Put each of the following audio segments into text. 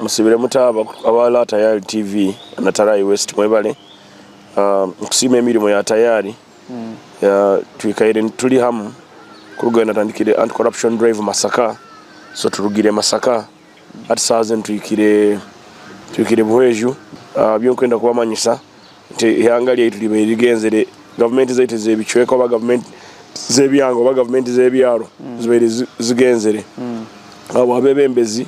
Musibire muta aba La Tayari TV na Tarai West mwebare nikusiima emirimo ya Tayari twikaire turi hamu kuruga natandikire Anti Corruption Drive Masaka so turugire Masaka hati saha zenu twikire twikire Buhweju byonkwenda kubamanyisa nti ihanga ryaitu ribaire rigenzire gavumenti zaitu zebicweka oba gavumenti zebyanga oba gavumenti zebyaro zibaire zigenzire ahabwa abebembezi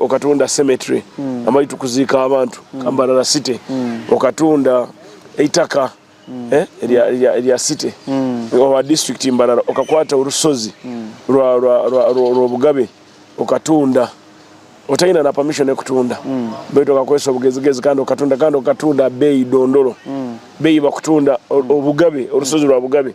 Okatunda cemetery ahu barikuziika abantu, Kambarara City. Okatunda eitaka erya city owa district Mbarara. Okakwata orushozi rw'obugabe okatunda otaine na permission y'okutunda beitu okakoresa obugezigezi kandi okatunda, kandi okatunda abeeyi dondoro, beeyi bakutunda obugabe, orushozi rwa bugabe.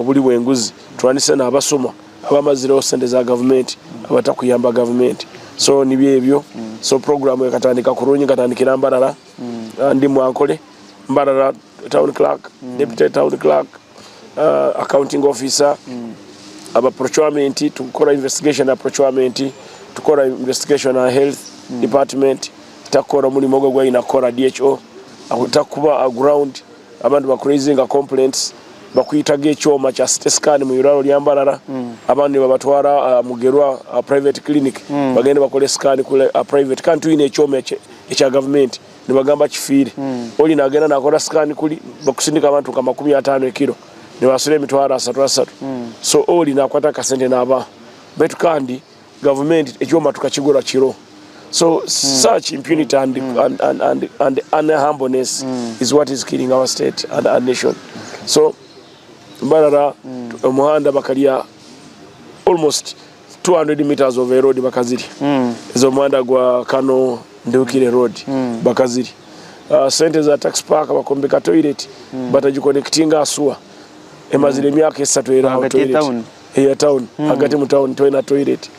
Oburi bw'enguzi turanise nabasuma abamazireho sente za gavumenti abatakuyamba gavumenti so nibyo ebyo so program ekatandika kurungi nkatandikira mbarara ndi mu ankole mbarara town clerk deputy town clerk uh, accounting officer aba procurement tukora investigation ya procurement tukora investigation ya health department takora omulimo ogwo gwayina kukora dho akuta kuba a ground Abandi ba kuraizinga complaints bakwitaga ekyoma kya city scan mu irwaro rya Mbarara abandi nibabatwara aha Mugerwa aha private clinic bagende nibakore scan kuri aha private kandi twine ekyoma ekye ekya gavumenti nibagamba kifiire Oli nagenda nakora scan kuri bakusindika abantu nka makumi atano ekiro nibasura emitwaro asatu asatu so Oli nakwata akasente nabaha baitu kandi Gavumenti ekyoma tukakigura kiro so such impunity and and unhumbleness is what is killing our state and our nation so barara omuhanda bakarya almost 200 metres of a road bakazirya eza omuhanda gwa Kano Nduhukire road bakazirya sente za tax park bakombeka toilet batagikonekitinga aha suwa emazire emyaka esatu eri aho toilet. eya tawuni hagati mu tawuni twena toyireti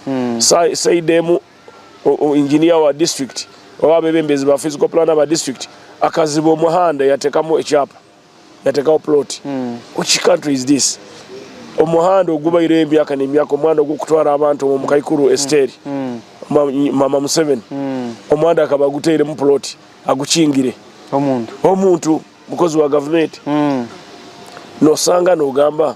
sayidi emu inginiya wa disiturikiti oba abebembezi ba fiziko pulana ba disiturikiti akaziba omuhanda yatekamu ekyapa yatekaho puloti which kantri izi disi omuhanda ogubaireho emyaka nemyaka omuhanda ogwokutwara abantu omu kaikuru esiteri mama museveni omuhanda akaba aguteiremu puloti agukingire omuntu omuntu mukozi wa gavumenti nosanga nogamba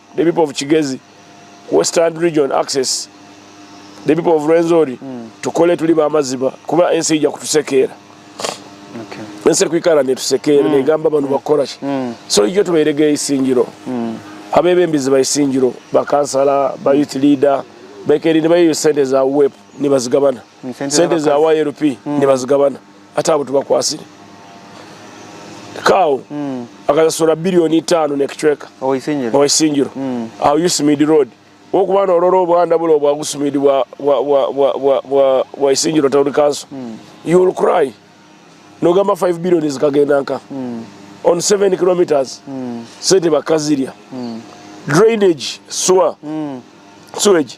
The people of Kigezi, Western Region Access, the people of Rwenzori tukole turi ba maziba kuba ensi eija kutusekeera. Ensi erikwikara netusekeera negamba banu bakukora ki? So ija otubairege eisingiro, abebembezi ba isingiro, ba kansala, ba youth leader, baikare nibayeyo sente za UWEP nibazigabana, sente za YLP nibazigabana. Hati abo tibakwatsire. Kaawo akasasura bilioni itaano n'ekicweka owa Isingiro aha Usmid Road. Wokuba norora obuhanda buri obwa Usmid bwa Isingiro Town Council, you will cry. Nogamba five billion zikagenda nka on seven kilometres? Sente bakazirya. Drainage, sewer, sewage.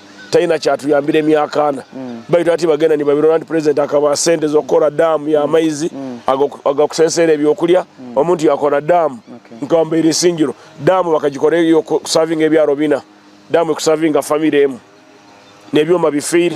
taine akyatuyambire emyaka ana baitu hati bagenda nibabirora nti president akabaha sente zokukora dam yamaizi agakuseseera ebyokurya omuntu yakora dam nka mbeera isingiro dam bakagikora eyokusavinga ebyaro bina dam ekusavinga family emu nebyoma bifiire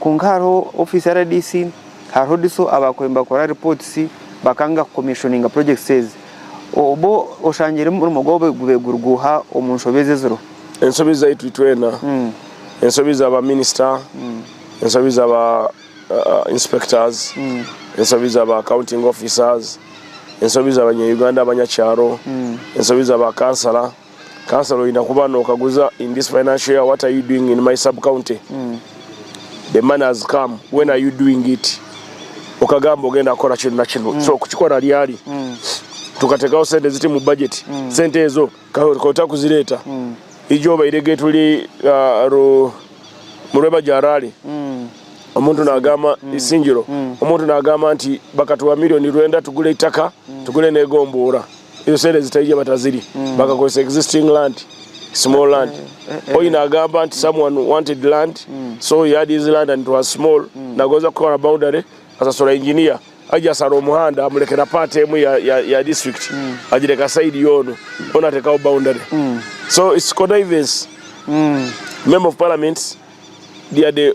Kwonka hariho office ya rdc, hariho DISO abakubaire nibakora reports bakanga ku commissioninga projects ezi. Obwo oshangire omurimo gwabo gubaire guri guuha omu nshobe ezi eziriho? Enshobe zaitu itwena, enshobe za ba minister, enshobe za ba inspectors, enshobe za ba accounting officers, enshobe za banya Uganda abanyakyaro, enshobe za ba councillor, Councillor oyine kuba nokaguza in this financial year what are you doing in my sub county the money has come when are you doing it okagamba ogenda kukora kinu na kinu so kukikora ryari tukatekaho sente ziti mu budget sente ezo okaba otakuzireta ija obairege turi murwebagyo harare omuntu nagamba isingiro omuntu nagamba nti bakatuha million rwenda tugure itaka tugure negombora. Ezo sente zitari gye batazirye bakakozesa existing land, small land. Oyi nagamba nti someone wanted land so he had his land and it was small nagonza kukora boundary asasura engineer aija asara omuhanda amurekera part emu ya ya ya district agireka side yoona boona atekaho boundary so it's connivance. Member of parliament dia de.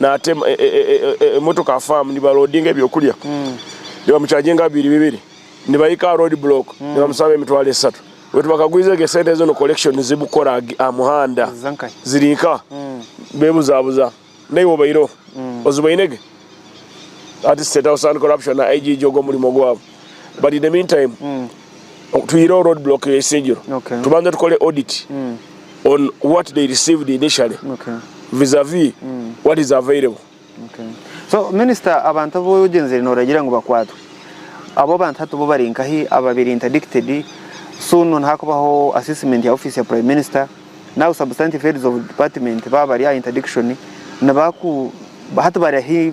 naata emotoka aha faamu nibaroodinga ebyokurya nibamucaginga nka bibiri bibiri nibahika aha road block nibamusaba emitwaro esatu baitu bakagwiza egyo esente ezo ni collection zibukora aha muhanda ziri nka bebuzabuza naiwe obaireho ozibainege? That is state house and corruption na IGG ogwo murimo gwabo. but in the mean time tuyireho road block ya isingiro tubanze tukole audit on what they received initially vis a vis what is available So minister abantu abu ogyenzire noragira ngu bakwatwe abo abantu hati bo bari nkahi ababire interdicted soon nihakubaho assessment ya office ya prime minister now substantive heads of department baba bari aha interdiction nibaku hati bari ahi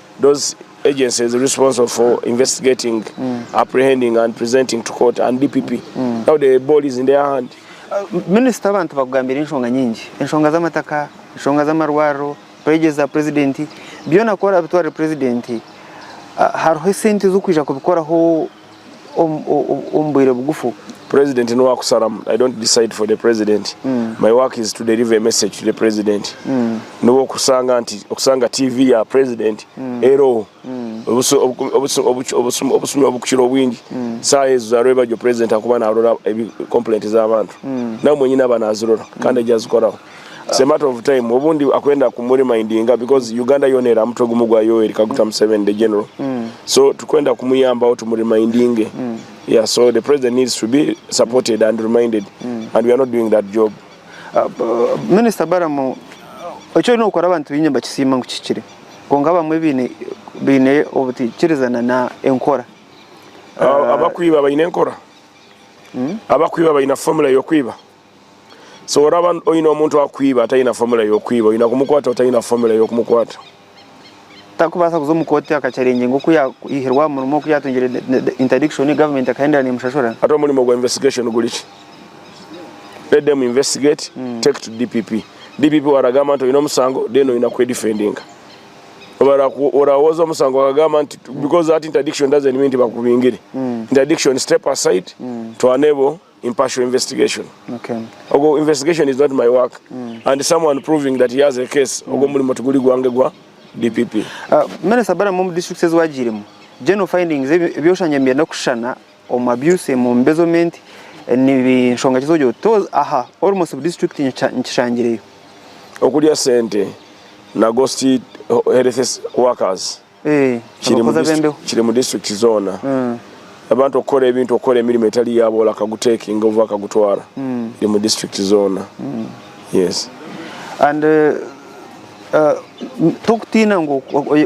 Those agencies responsible for investigating, apprehending and presenting to court and DPP now the ball is in their hand. Minisita abantu bakugambira enshonga nyingi, enshonga z'amataka, enshonga z'amarwariro, pledges za purezidenti, byona ku orabitwarire purezidenti hariho esente z'okwija kubikoraho? omu bwire bugufu. President nuwe akusharamu I don't decide for the president my work is to deliver a message to the president nuwe okusanga nti okusanga TV ya president eroho obusumi obukukira obwingi saha ezo za rwebagyo president akuba narora complaint zabantu nawe mwenyini aba nazirora kandi egyo azikoraho. It's a matter of time obundi akwenda kumu remindinga because Uganda yoona eri aha mutwe gumu gwa Yoweri Kaguta Museveni the general so turikwenda kumuyambaho tumu remindinge yeah so the president needs to be supported and reminded and we are not doing that job. Minister Balaam eki oine kukora abantu baingi nibakisiima ngu kihikire kwonka abamwe baine baine obutaikirizana na enkora. Abakwiba baine enkora? Abakwiba baine formula yokwiba? So oraba oyine omuntu akwiba atayina formula yokwiba oyina kumukwata otayina formula yokumukwata. Takubaasa kuza omu kooti akakyarengyinga oku yahirwe aha murimo oku yatungire interdiction government ekahendera nemushashura. Hati omurimo gwa investigation guri ki? Let them investigate take to DPP. DPP waragamba nti oyine omusango then oyina kwe defendinga. Oraba woza omusango bakagamba nti because that interdiction doesn't mean nti bakubingire. Interdiction step aside twane bo. impartial investigation ogwo investigation is not my work and someone proving that he has a case ogwo omurimo tiguri gwange gwa DPP. Minister Balaam omu districts ezi wagiiremu general findings ebi oshangiire nibyenda kushushana omu abuse omu embezzlement ni nshonga ki ezi ogira oti toz aha almost buri district nkishangireyo? Okurya sente na ghost health workers. kiri omu disiturikiti zoona abantu okukora ebintu okukora emirimo etari yaabo ori akagutekinga oba akagutwara iri omu disiturikiti zoona yes and uh, tokutiina ngu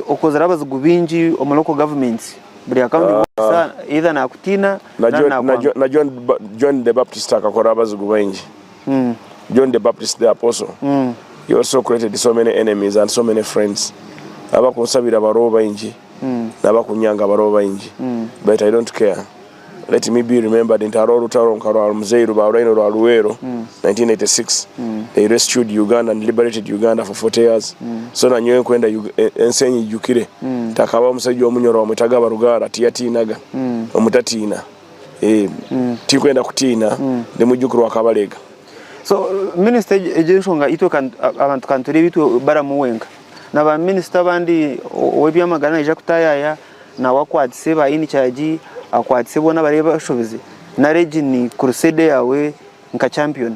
okozire abazigu bingi omu local government buri akawundi woosa ah. either nakutiina na John the Baptist akakora abazigu baingi John the Baptist the Apostle he also created so many enemies and so many friends abakunsabira bariho baingi nabakunyanga bariho baingi but I don't care let me be remembered nti hariho orutaro nka rwa Muzeeyi Rubauraine orwa Luweero 1986 they rescued Uganda and liberated Uganda for 40 years so nanyowe nkwenda ensi enyijukire nti hakabaho omusajja omu nyoro bamwetaga Barugara tiyatiinaga omutatiina. Tirikwenda kutiina, Ndi mwijukirwa wa Kabalega. So minister egyo enshonga itwe abantu kanturebe itwe baramu wenka na ba minister abandi owebyamagara naija kutayaya nawe akwatise ba in charge akwatise bona abari abashobize nari egi ni crusade yawe nka champion.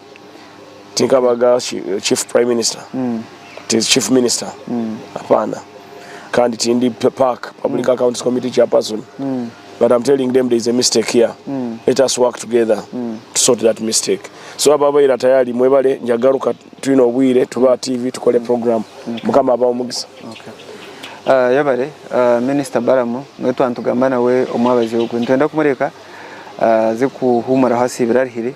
Tinkabaga chief prime minister, ti chief minister, hapana. Kandi tindi PAC, public accounts committee chairperson. But I'm telling them there is a mistake here. Let us work together to sort that mistake. So ababaire tayari mwebale njagaruka twine obwire tube aha TV tukore program. Mukama abahe omugisa. Okay. Yebare minister Balaam niwe twaba nitugamba nawe omwabazireho. Nitwenda kumureka aze kuhumuraho asiibire arihire.